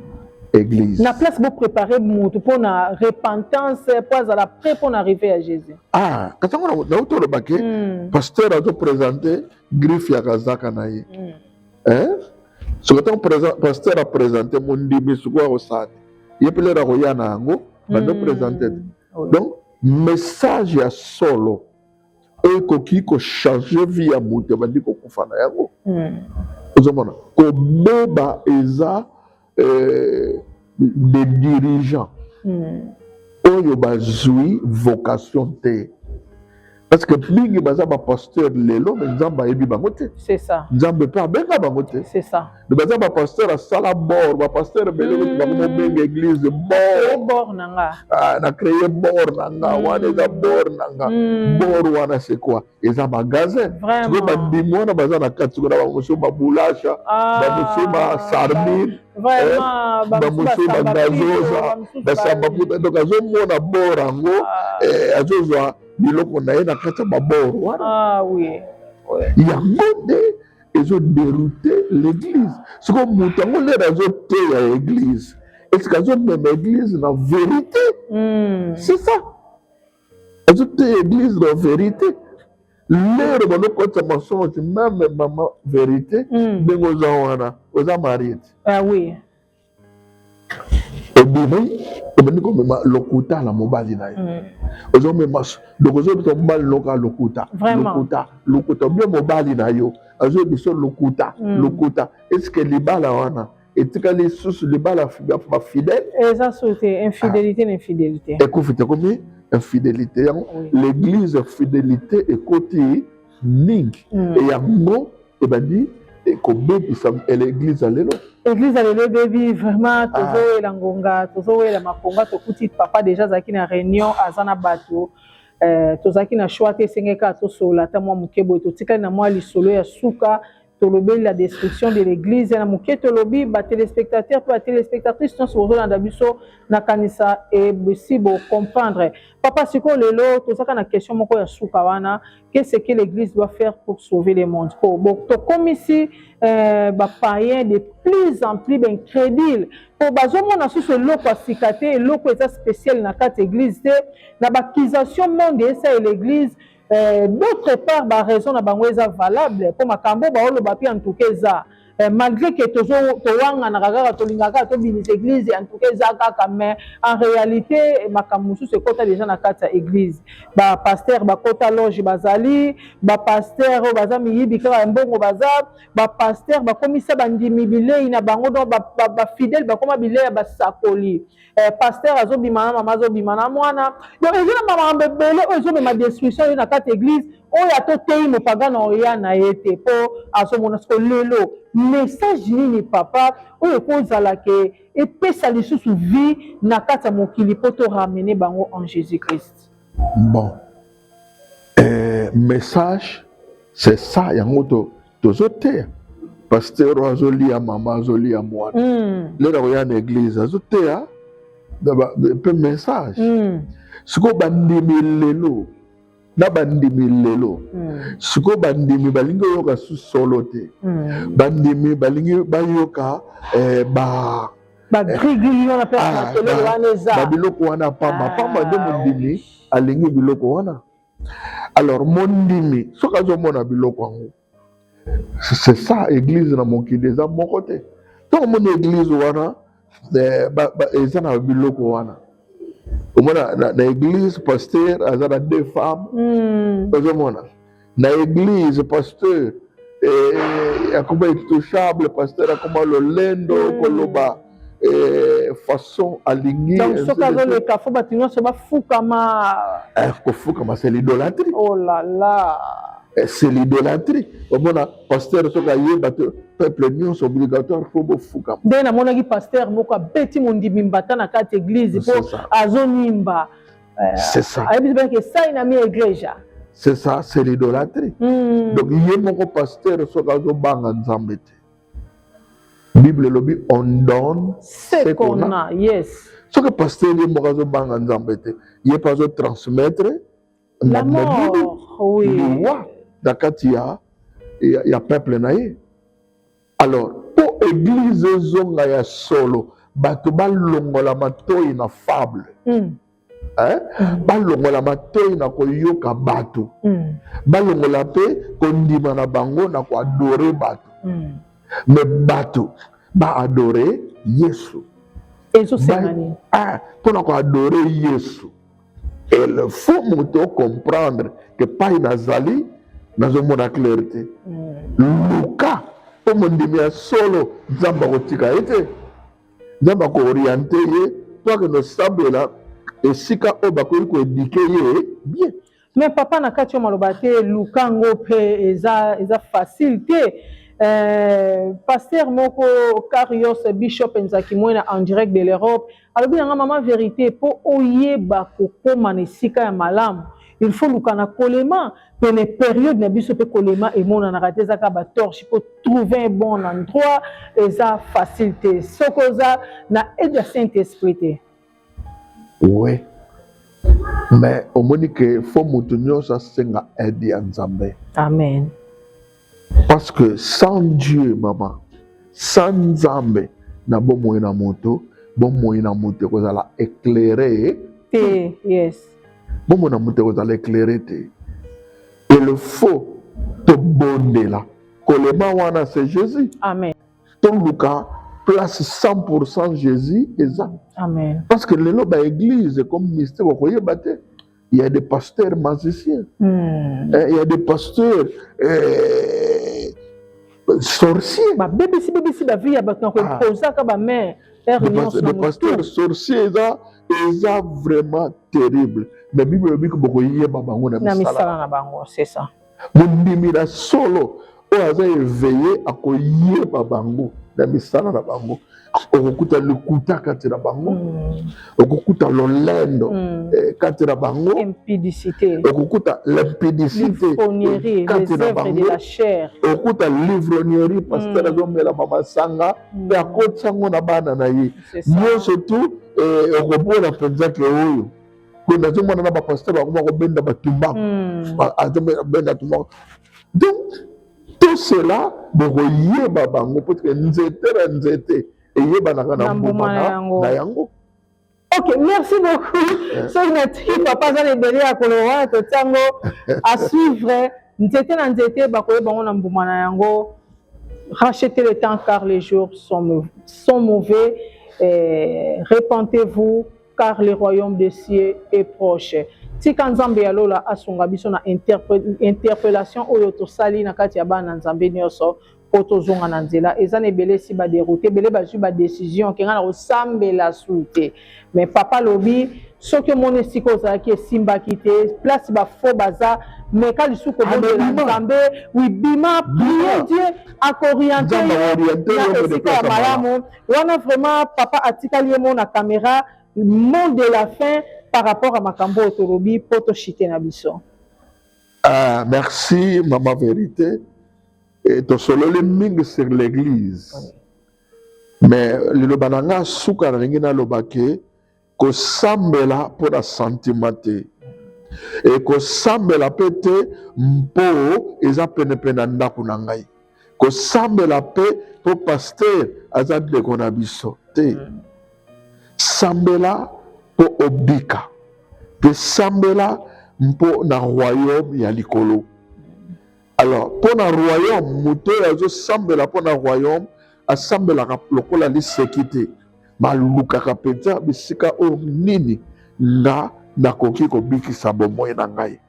église na place boprépare motu mpo na repentance mpo azala prêt mpo na arrive ya jésus ah kasi yango nauti olobaki mm. pasteur azoprésente griffe ya kazaka na ye mm. eh? soki ntango pasteur apresente mondimi sikoyo akosala te ye mpe lelo akoya na yango bando presente te donc message ya solo oyo ekoki kochange vie ya moto ebandi kokufa na yango hmm. ozomona kobeba eza eh, des dirigeants hmm. oyo bazwi vocation te parce que mingi baza ba pasteur lelo mais nzambe ayebi bango te c'est ça nzambe mpe abenga bango te c'est ça mais baza ba pasteur asala bord ba pasteur ebele kuti bango mobenga église bord bord na nga ah, na créer bord na nga mm. wana eza bord na nga mm. bord wana c'est quoi eza magasin sikoyo bandimi wana baza na kati sikoyo na bango mosusu babulasha ah. bamosusu basarmine Eh, bamosusu bagazoza basamba puta donc azomona bor yango ah. eh, azozwa biloko na ye na kati ya babor wana ah, oui. ouais. yango nde ezo deroute l'église soko moto yango lere azoteya église eske azomema église na vérité mm. c'est ça azoteya église na vérité lere balokota mensonge meme mama vérité hmm. ndenge mm. oza wana oza marie te ah, oui. obimi obandi komema lokuta na mobali na ye mm. ozomema loko ozoyebisa mobali noka lokuta lokuta lokuta obie mobali na yo azoyebisa lokuta mm. lokuta eske libala wana etikali lisusu libala bafidèle eza so te infidélité na infidélité ekufi te komi infidélité yango l'église fidélité ekoti mingi mm. e yango ebandi ekobebisa eglise ya lelo eglise ya lelo ebebi vraiment ah. tozowela ngonga tozowela makonga tokuti papa deja azalaki na réunion aza na bato eh, tozalaki na choix te esengeli kaka tosolola ata mwa moke boye totikali na mwa lisolo ya suka tolobeli la destruction de l'église na moke tolobi batelespectateur mpe batelespectatrice nyonso bozolanda biso nakanisa ebisi bocomprendre papa sikoyo lelo tozaka na question moko ya suka wana Qu'est ce que l'église doit faire pour sauver le monde oh, bon, tokomisi euh, bapayen de plus en plus baincrédule mpo bazomona susu eloko ya sika te eloko eza spécial na kati église te na baccusation monde esaye l'église euh, d'autre part baraison na bango eza valable mpo makambo baoloba mpe en tout cas eza Eh, malgré que tozo towanganaka kaka tolingaka kaka tobimisa église en tout cas eza kaka mais en réalité makambo mosusu ekota déjà na kati ya église bapasteur bakota loge bazali bapasteur oyo baza miyibi kaka ya mbongo baza bapasteur bakomisa bandimi bilei na bango donc bafidèle bakoma bilei ya basakoli eh, pasteur azobima na mama azobima na mwana donc eza na bamakambo ebele oyo ezomema destruction yo na kati eglise oyo ata oteyi mopagana oya na ye te mpo azomona siko lelo message nini papa oyo ekozala ke epesa lisusu vie na kati ya mokili mpo to ramene bango en jésus christ bon eh, message c'est ça yango to tozoteya pasteur oyo azolia mama azolia mwana mm. lelo nakoya na eglise azoteya mpe message mm. sikoyo bandimi lelo na bandimi lelo mm. sikoyo bandimi balingi oyoka su solo te mm. bandimi balingi bayoka eh, ba babiloko wana pamba pamba nde mondimi alingi biloko wana alors mondimi soki azomona biloko yango c'est ça église na mokili eza moko te ntango omoni église wana eh, eza na biloko wana omona na, na église pasteur aza na deux femmes mm. ozomona na église pasteur eh, akoma intouchable pasteur akoma lolendo mm. koloba eh, façon alingi donc soki azoleka fo bato nyonso bafukama eh, kofukama c'est l'idolatrie oh là là eh, c'est l'idolatrie omona pasteur soki ayeba te peuple nyonso obligatoire fo bofukama nde namonaki pasteur moko abeti mondimi mbata na kati église mpo azonimba eh, c'est ça ayebisi baki esai na mi eglesia c'est ça c'est l'idolatrie mm. donc ye moko pasteur soki azobanga nzambe te bible elobi on donne ce qu'on a yes soki pasteur ye moko azobanga nzambe te ye mpe azotransmettre liwa na kati ya, ya, ya peuple na ye alors mpo eglize ezonga ya solo bato balongola matoi na fable mm. Eh? Mm. balongola matoi na koyoka bato mm. balongola mpe kondima na bango na koadore bato mm. me bato baadore yesu ah, mpo na koadore yesu il faut moto ocomprendre ke pai nazali nazomona claire te luka mpo mondimi ya solo nzambe akotika ye te nzambe akooriente ye mpo akende osambela esika oyo bakoki koedike ye bien me papa na kati yo maloba te luka ngo mpe eza, eza facile te Euh, pasteur moko Carios Bishop Nzaki Mwena en direct de l'Europe alobi na nga mama verite mpo oyeba kokoma na esika ya malamu il faut luka na kolema pene periode na biso mpe kolema emonanaka te ezaka batorche mpo trouver un bon endroit eza facile te soki oza na aide ya saint esprit te oui mais omoni ke fo moto nyonso asenga aide ya nzambe amen Parce que sans Dieu maman, sans Nzambe na bomoi na moto, bomoi na moto ekozala éclairé te. Yes. Bomoi na moto ekozala éclairé te. Et le faux tobondela kolema wana c'est Jésus. Amen. Toluka place 100% Jésus eza. Amen. Parce que lelo ba église comme mystique okoyeba te. il y a des pasteurs magiciens mm. eh, il y a des pasteurs eh, sorciers babebisi bebisi bavie ya bato na koposaka bamare des pasteurs sorciers eza eza vraiment terrible mais bible elobi bokoyeba bango na misala na bango c'est ça Mondimi na solo oyo aza eveye akoyeba bango na misala na bango okokuta lokuta kati na bango mm. okokuta lolendo mm. eh, kati na bango okokuta limpidicité kati na bango okokuta livrognerie pasteur mm. azomela mamasanga mpe akotisa yango na bana na ye nyonso tu eh, okomona mpenza ke oyo boye nazomona na bapasteur bakoma kobenda batumbaku hmm. azobenda tumbaku donc tout cela bokoyeba bango parceke nzete na nzete eyebanaka na mbuma na yango ok merci beaucoup eh. soki natiki papa aza na ebele ya koloba wana totiango à suivre nzete na nzete bakoyeba yango na mbuma na yango rachetez le temps car les jours sont, sont mauvais eh, repentez-vous car le royaume de cieux est proche tika nzambe ya lola asunga biso na interpellation oyo tosali na kati ya bana nzambe nyonso mpo tozonga na nzela eza na ebele esi baderoute ebele bazwi badecision kenga na kosambela su te me papa lobi soki omoni esika ozalaki esimbaki te place bafo baza meka lisusu kobondela nzambe wibima prie die akoriente yo na esika ya malamu wana vraiment papa atikali yemo na camera mot de la fin par rapport à makambo oyo tolobi mpo toshite na biso ah, merci mama verité e, tosololi mingi sur l'église mais liloba na ngai suka nalingi naloba ke kosambela mpo na santima te ekosambela mpe te mpo eza penepene na ndako na ngai kosambela mpe mpo paster aza ndeko na biso te mm. sambela mpo obika mpe sambela mpo na royaume ya likolo Alors, mpo na royaume, moto oyo azosambela mpo na royaume asambelaka lokola liseki te, malukaka mpenza bisika oyo nini nga nakoki kobikisa bomoi na ngai.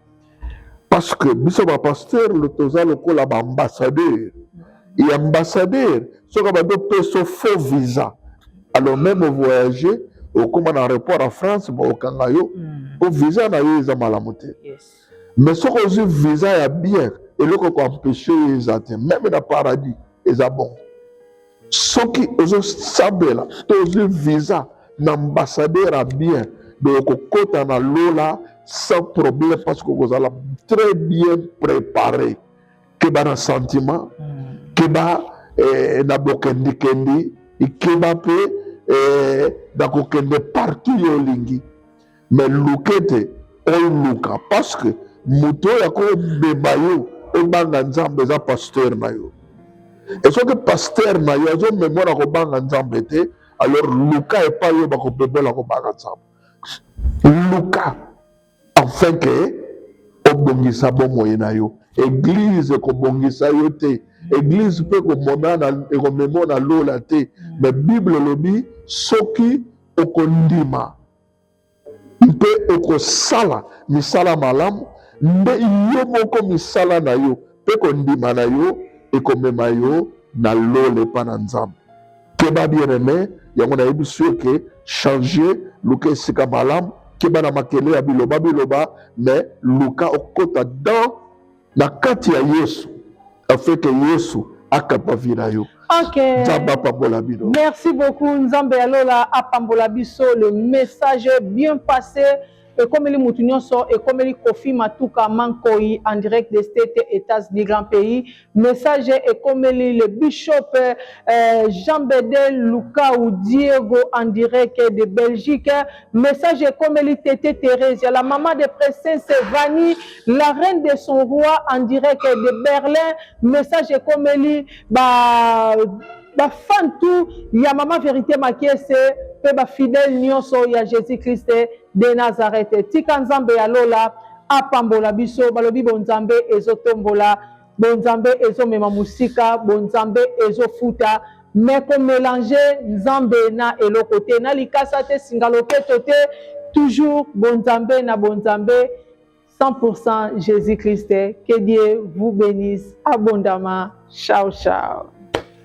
Parce que biso bapasteur toza lokola baambassadeur e ambassadeur soki abandi opeso faux visa alors meme ovoyage okóma na aéroport ya france baokanga yo mpo hmm. visa na yo eza malamu te mais soki ozwi visa ya bien eloko ekoempeshe yo eza te meme na paradis eza bongo soki ozosambela to ozwi visa na ambassadeur ya bien boye okokota na lola sans problème parce que okozala très bien préparé keba na sentiment hmm. keba eh, na bokendikendi ikeba mpe eh, na kokende partout yo olingi me luka ete oluka parceke moto oyo akobeba yo obanga nzambe eza pasteur na yo e soki pasteur na yo azomema na kobanga nzambe te alors luka epai oyo bakobebola kobanga nzambe luka afin ke obongisa bomoi na yo eglize ekobongisa yo te eglize mpe ekomonana ekomemona lola te me bible elobi soki okondima mpe okosala misala malamu, nde yo moko misala na yo mpe kondima na yo ekomema yo na lola epai na Nzambe. Keba bien aime, yango nayebisi yo ke changer, luka esika malamu, keba na makele ya biloba biloba, mais luka okota dans na kati ya yesu afeke yesu akamba vi na yo okay. nzambe apambola bino merci beaucoup nzambe ya lola apambola biso le message bien passé ekomeli motu nyonso ekomeli kofi matuka mankoi en direct de state états-unis grand pays message ekomeli le bishop euh, jean bedel lukau diego en direct de belgique Message ekomeli Tete Theresia, la maman de Princesse Vani, la reine de son roi en direct de Berlin. Message ekomeli ba ba fan tout ya maman Verite Makiese pe ba fidèle nyonso ya Jésus Christ de Nazareth. Tika Nzambe ya lola apambola biso balobi bo Nzambe ezotombola Bonzambe ezo mema musika, bonzambe ezo futa mais ko melanger nzambe na eloko te, na likasa te, singa loketo te, toujours bonzambe na bonzambe 100% Jesus Christ, que Dieu vous benisse abondamment, ciao ciao.